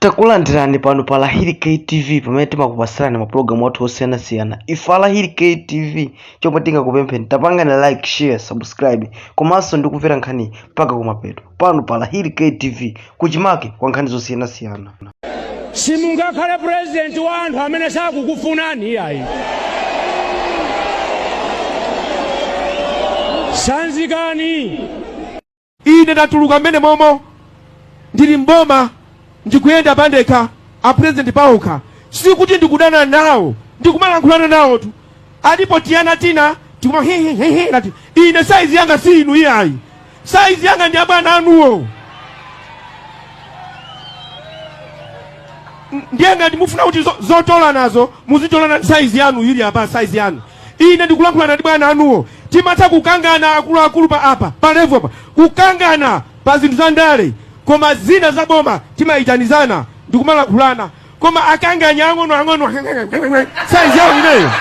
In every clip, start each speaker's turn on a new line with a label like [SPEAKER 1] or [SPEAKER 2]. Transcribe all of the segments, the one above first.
[SPEAKER 1] takulandirani pano pa lahiri ktv pamene timakupatsirani mapulogalamu athu osiyanasiyana ife alahiri ktv chomwe tingakupempheni tapangani like share subscribe komanso ndikumvera nkhani mpaka kumapeto pano pa lahiri ktv kuchimake kwa nkhani zosiyanasiyana
[SPEAKER 2] simungakhale purezidenti wa anthu amene sakukufunani iyayi sanzikani
[SPEAKER 3] Ine ndatuluka m'menemomo, ndili m'boma, ndikuyenda pandekha, a president paokha. Sikuti ndikudana nawo, ndikumalankhulana nawotu. Alipo tiana tina tikuma hi hi hi hi ngati ine saizi yanga si inu iyayi, saizi yanga ndi abwana anuwo. N- Ndiye ngati mufuna kuti zo- zotolanazo muzitolana ndi saizi yanu ili apa saizi yanu. Ine ndikulankhulana ndi bwana anuwo. Timatha kukangana akuluakulu pa apa, pa level apa, kukangana pa zinthu za ndale, koma zina za boma timayitanizana ndi kumalankhulana. Koma akanganya ang'onoang'ono size yawo ineyo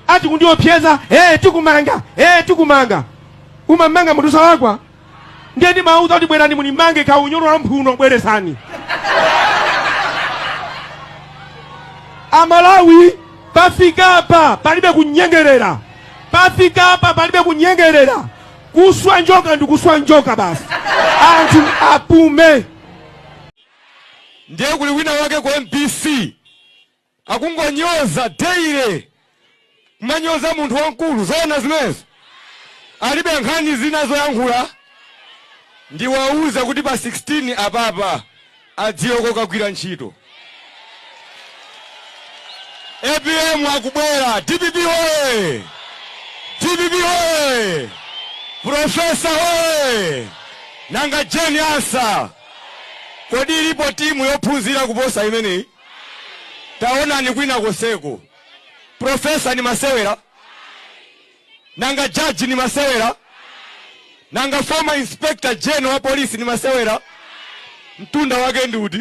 [SPEAKER 3] ati kundiopseza, eh tikumanga, eh tikumanga. Umamanga munthu osalakwa? ndiye ndimawauza kuti bwerani munimange kaunyolo wa mphuno bweretsani amalawi pafika apa palibe kunyengerera pafika apa palibe kunyengerera kuswa njoka ndi kuswa njoka basi anthu apume
[SPEAKER 4] ndiye kuli wina wake ku mbc Akungonyoza daily kumanyoza munthu wamkulu zoona zimenezo? Alibe nkhani zina zoyankhula? Ndiwauza kuti pa 16 apapa adziwe kokagwira ntchito. Apm akubwera! Dpp hoye! Dpp hoye! Profesa hoye! Nanga Jane Ansah kodi ilipo timu yophunzira kuposa imeneyi? taonani kwina koseko profesa ni masewera nanga jaji ni masewera nanga former inspector general wa polisi ni masewera mtunda wake ndi uti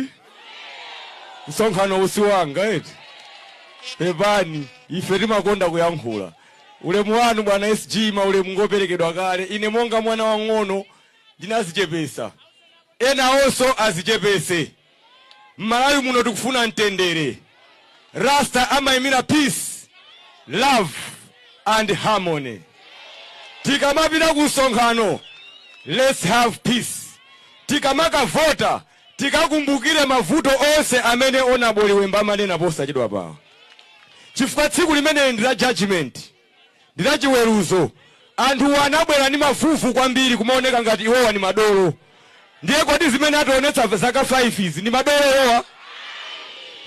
[SPEAKER 4] msonkhanowu si wanga eti pepani ife timakonda kuyankhula ulemu wanu bwana sg maulemu ngoperekedwa kale ine monga mwana wang'ono ndinazichepesa Enawonso azichepetse. Mmalawi muno tikufuna mtendere. Rasta amaimira peace, love and harmony. Tikamapita ku msonkhano let's have peace. Tikamakavota tikakumbukire mavuto onse amene honourable member amanena posachedwapawa chifukwa tsiku limeneli ndi la judgement. ndi la chiweruzo. Anthuwa anabwera ndi mavuvu kwambiri kumaoneka ngati iwowa ndi madolo. Ndiye kodi zimene ationetsa zaka 5 izi ndi madolo iwowa?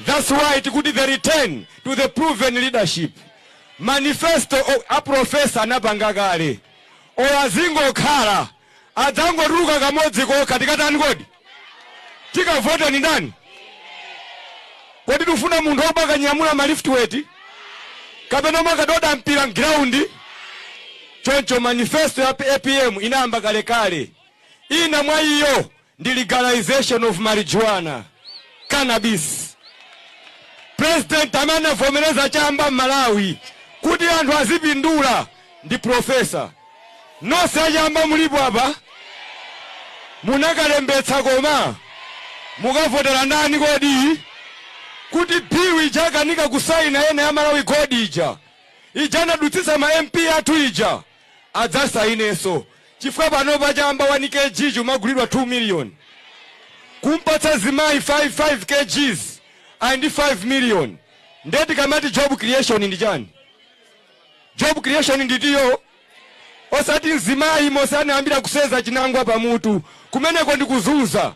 [SPEAKER 4] That's why tikuti the return to the proven leadership. Manifesto a professor anapanga kale. Olo azingokhala adzangotuluka kamodzi kokha tikatani kodi tikavote ni ndani kodi tufuna munthu obwakanyamula maliftiweti kapena obwakadoda mpira mgiraundi choncho manifesto ya apm inayamba kalekale ina mwa iyo ndi legalization of marijuana, cannabis. President amene anavomereza chamba m'Malawi kuti anthu azipindula ndi professor. Nonse achamba mulipo apa? Munakalembetsa koma? Mukavotera ndani kodi? Kuti bilu ija akukanika kusaina ena, ya Malawi Gold ija. Ija anadutsitsa ma MP athu ija. adzasainenso chifukwa panopa chamba 1 kg ukumagulidwa 2 million. Kumpatsa mzimayi 5 5 kgs ali ndi 5 million nde tikamati job creation ndi chani? Job creation ndi iyo osati mzimayi momwe anayambira kuseza chinangwa pa mutu kumeneko ndi kuzunza.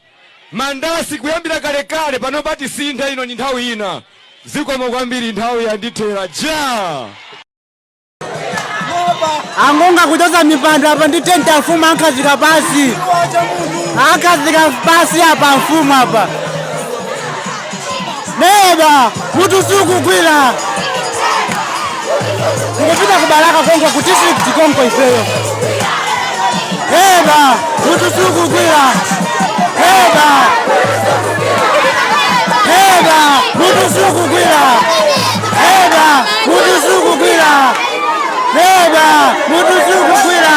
[SPEAKER 4] Mandasi kuyambira kalekale panopa tisintha ino ndi nthawi ina. Zikomo kwambiri nthawi yandithera ija!
[SPEAKER 5] angonga kuchotsa mipando apa ndi tenti afumu ankhazika pasi ankhazika pasi apa mfumu apa neba mutu sukugwira tikupita ku Balaka konko ku district konko ifeyo neba mutu sukugwira neba neba mutu sukugwira Neba mutu sukugwira. Neba mutu sukugwira.